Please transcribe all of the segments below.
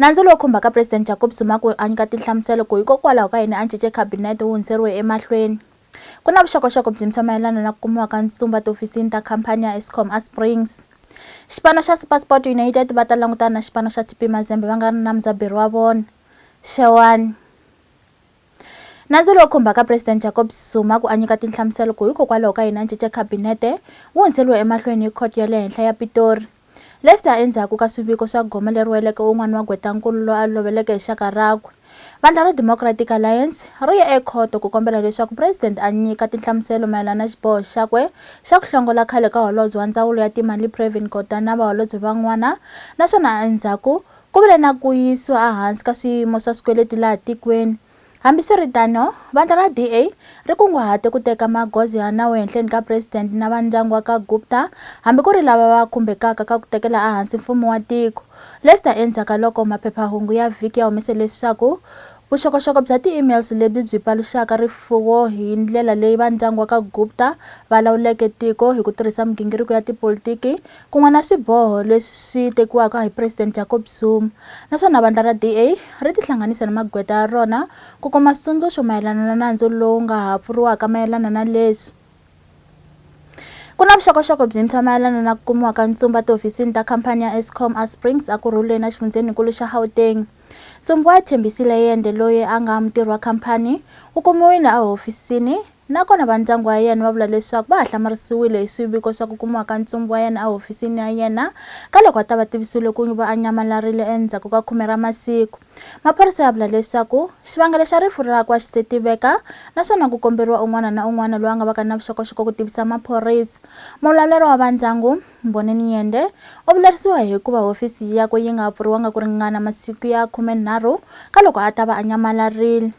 Nandzu lowu khumbaka President Jacob Zuma ku a nyika tinhlamuselo ku hikokwalaho ka yini a cince Khabinete wu hundzeriwe emahlweni. Ku na vuxokoxoko byintshwa mayelana na ku kumiwa ka ntshumba tihofisini ta khampani ya Eskom eSprings. Xipano xa SuperSport United va ta langutana na xipano xa TP Mazembe va nga ri na mudzaberi wa vona, Xewani. Nandzu lowu khumbaka President Jacob Zuma ku a nyika tinhlamuselo ku hikokwalaho ka yini a cince khabinete wu hundzeriwe emahlweni hi khoto ya le henhla ya Pitori. Leswi ta endzhaku ka swiviko swa gome leri weleke un'wana wa gweta-nkulu loyi a loveleke hi xaka rakwe. Vandla ra Democratic Alliance ri ye ekhoto ku kombela leswaku President a nyika tinhlamuselo mayelana na xiboho xakwe xa ku hlongola khale ka Holobye wa Ndzawulo ya Timali Pravin Gordhan na vaholobye van'wana naswona endzhaku Ku vile na ku yisiwa ehansi ka swiyimo swa swikweleti laha tikweni. Hambiswiritano, vandla ra DA ri kunguhate ku teka magoza ya nawu ehenhleni ka president na va ndyangu wa ka Gupta hambi ku ri lava va khumbekaka ka ku tekela ehansi mfumo wa tiko, leswi ta endzhaka loko maphephahungu ya vhiki ya humese leswaku vuxokoxoko bya ti-emails lebyi byi paluxaka rifuwo hi ndlela leyi va ndyangu wa ka Gupta va lawuleke tiko hi ku tirhisa migingiriko ya tipolitiki Kun'wana swiboho leswi swi tekiwaka hi President Jacob Zuma, naswona vandla ra DA ri tihlanganise ni magweta ya rona ku kuma switsundzuxo mayelana na nandzu lowu nga ha pfuriwaka mayelana na leswi ku na vuxokoxoko byintshwa mayelana na ku kumiwa ka ntsumba tihofisini ta khampani ya Eskom eSprings eKurhuleni exifundzheninkulu xa Gauteng. Ntsumbu wa Thembisile Yende loyi a nga mutirhi wa khampani wu kumiwile ehofisini Nakona va ndyangu wa yena va vula leswaku va ha hlamarisiwile hi swiviko swa ku kumiwa ka ntsumbu wa yena ehofisini ya yena ka loko a ta va tivisiwile ku va a nyamalarile endzhaku ka khume ra masiku. Maphorisa ya vula leswaku xivangelo xa rifu rakwe a xi se tiveka naswona ku komberiwa un'wana na un'wana loyi a nga vaka na vuxokoxoko ku tivisa maphorisa. Muvulavuri wa va ndyangu, Mboneni Nyende, u vilerisiwa hi ku va hofisi yakwe yi nga ha pfuriwanga ku ringana masiku ya khume nharhu ka loko a ta va a nyamalarile.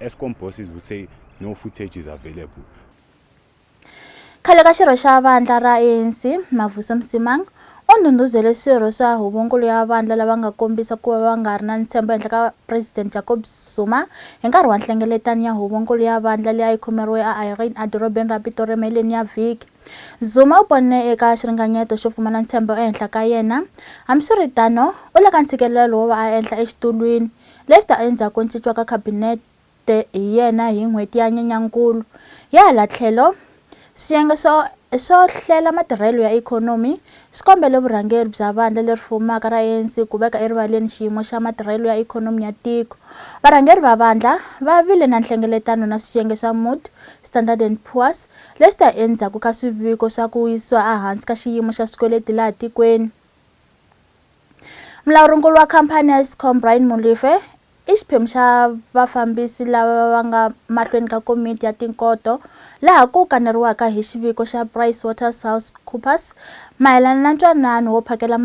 Eskom bosses would say no footage is available. Khale ka xirho xa vandla ra ANC, Mavuso Msimang, u ndhundhuzele swirho swa huvonkulu ya vandla lava nga kombisa ku va va nga ri na ntshembo ehenhla ka President Jacob Zuma hi nkarhi wa nhlengeletano ya huvonkulu ya vandla leyi a yi khomeriwe a Irene edorobeni ra Pitori emaheleni ya vhiki. Zuma u ponne eka xiringanyeto xo pfumala ntshembo ehenhla ka yena. Hambiswiritano, u le ka ntshikelelo wo va a enhla exitulwini. lexi ta endzhaku ncinciwa ka Khabinete hi yena hi n'hweti ya Nyenyankulu. Hi hala tlhelo, swiyenge swo swo hlela matirhelo ya ikhonomi swi kombele vurhangeri bya vandla leri fumaka ra ANC ku veka erivaleni xiyimo xa matirhelo ya ikhonomi ya tiko. Varhangeri va vandla va vile na nhlengeletano na swiyenge swa Mood, Standard and Poor's leswi ta endzhaku ka swiviko swa ku yisiwa ehansi ka xiyimo xa swikweleti laha tikweni. Mulawurinkulu wa khamphani ya Eskom Brian Molefe i xiphemu xa vafambisi lava va nga mahlweni ka komiti ya tinkoto laha ku kaneriwaka hi xiviko xa Price Waters House Coopers mayelana na ntwanano wo phakela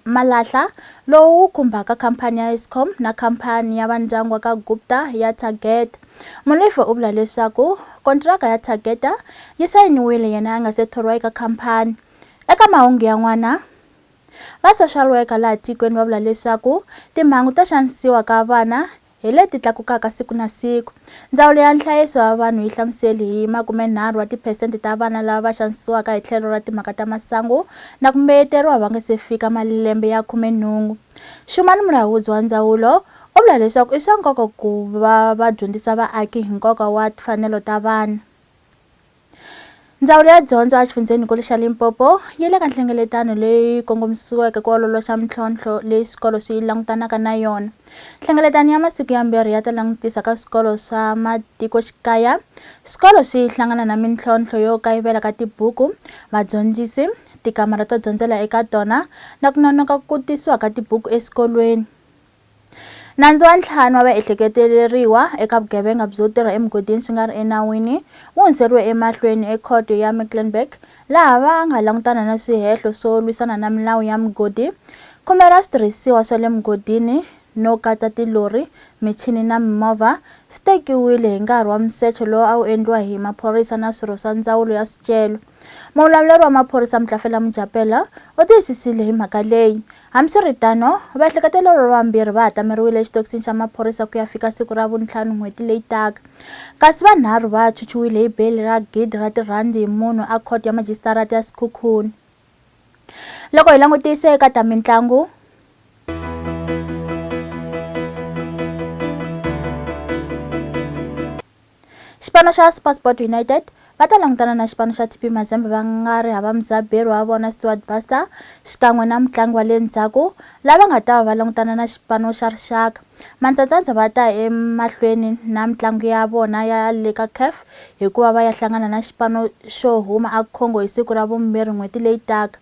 malahla lowu wu khumbaka khamphani ya Eskom na khamphani ya vandyangu wa ka Gupta ya Target. Molefe u vula leswaku kontiraka ya Targeta yi sayiniwile yena a nga se thoriwa eka khamphani. Eka mahungu yan'wana, Va social worker laha tikweni va vula leswaku timhangu to xanisiwa ka vana hi leti tlakukaka siku na siku. Ndzawulo ya Nhlayiso wa Vanhu yi hlamuseli hi makumenharhu wa tiphesente ta vana lava va xanisiwaka hi tlhelo ra timhaka ta masangu na ku mbeyeteriwa va nga se fika malembe ya khumenhungu. Shumani Mulaudzi wa ndzawulo u vula leswaku i swa nkoka ku va va dyondzisa vaaki hi nkoka wa timfanelo ta vana. Ndzawulo ya dyondzo a xifundzhenikulu xa Limpopo yi le ka nhlengeletano leyi kongomisiweke ku ololoxa mintlhontlho leyi swikolo swi langutanaka na yona. Nhlengeletano ya masiku yambirhi ya ta langutisa ka swikolo swa matikoxikaya. Swikolo swi hlangana na mintlhontlho yo kayivela ka tibuku, vadyondzisi, tikamara to dyondzela eka tona na ku nonoka ku tisiwa ka tibuku eswikolweni. Nandzu wa ntlhanu wa vaehleketeleriwa eka vugevenga byo tirha emugodini swi nga ri enawini wu hundzeriwe emahlweni ekhoto ya Mecklenburg laha va nga langutana na swihehlo swo lwisana na milawu ya mugodi, khumela switirhisiwa swa le mugodini no katsa tilori, michini na mimovha swi tekiwile hi nkarhi wa musecho lowu a wu endliwa hi maphorisa na swirho swa ndzawulo ya swicelo. Muvulavuri wa maphorisa Mtlafela Mujapela u tiyisisile hi mhaka leyi Hambiswiritano, vaehleketeri lava vambirhi va hatameriwile exitokisini xa maphorisa ku ya fika siku ra Vuntlhanu n'hweti leyi taka. Kasi vanharhu va chuchiwile hi beyili ra gidi ra tirhandi hi munhu a Khoto ya Majisitarata ya Sekhukhune. Loko hi langutise eka ta mintlangu, Xipano xa SuperSport United va ta langutana na xipano xa TP Mazembe va nga ri hava mudzaberi wa vona Stuart Baxter xikan'we na mutlangi wa le ndzhaku lava nga ta va va langutana na xipano xa rixaka. Mantsantsantswa va ta emahlweni na mitlangu ya vona ya le ka CAF hikuva va ya hlangana na xipano xo huma a Congo hi siku ra vumbirhi n'hweti leyi taka.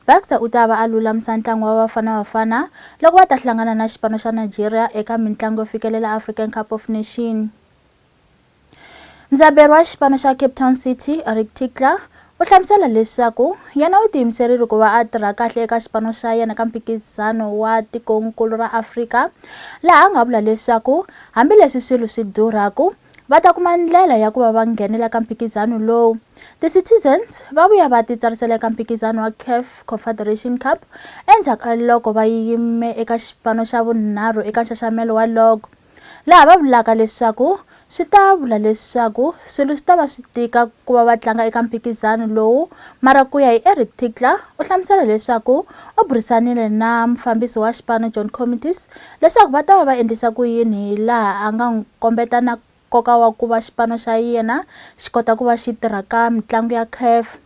Baxter u ta va a lulamisa ntlangu wa Bafana Bafana loko va ta hlangana na xipano xa Nigeria eka mintlangu yo fikelela African Cup of Nation. Mudzaberi wa xipano xa Cape Town City, Eric Tinkler, u hlamusela leswaku yena u tiyimiserile ku va a tirha kahle eka xipano xa yena ka mphikizano wa tikonkulu ra Afrika, laha a nga vula leswaku hambileswi swilo swi durhaku, va ta kuma ndlela ya ku va va nghenela ka mphikizano lowu. Ti-Citizens va vuya va titsarisela eka mphikizano wa CAF Confederation Cup endzhaku ka loko va yime eka xipano xa vunharhu eka nxaxamelo wa log, laha va vulaka leswaku swi ta vula leswaku swilo swi ta va swi tika ku va va tlanga eka mphikizano lowu, mara ku ya hi Eric Tickler u hlamusela leswaku u burisanile na mufambisi wa xipano John Comitis leswaku va ta va va endlisa ku yini hi laha a nga n'wi kombeta na nkoka wa ku va xipano xa yena xi kota ku va xi tirha ka mitlangu ya CAF.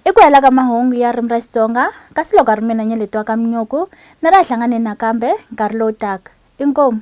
I ku hela ka mahungu ya Ririmi ra Xitsonga, kasi loko a ri mina Nyeleti wa ka Minyuku, ni ri a hlanganeni nakambe nkarhi lowu taka. Inkomu.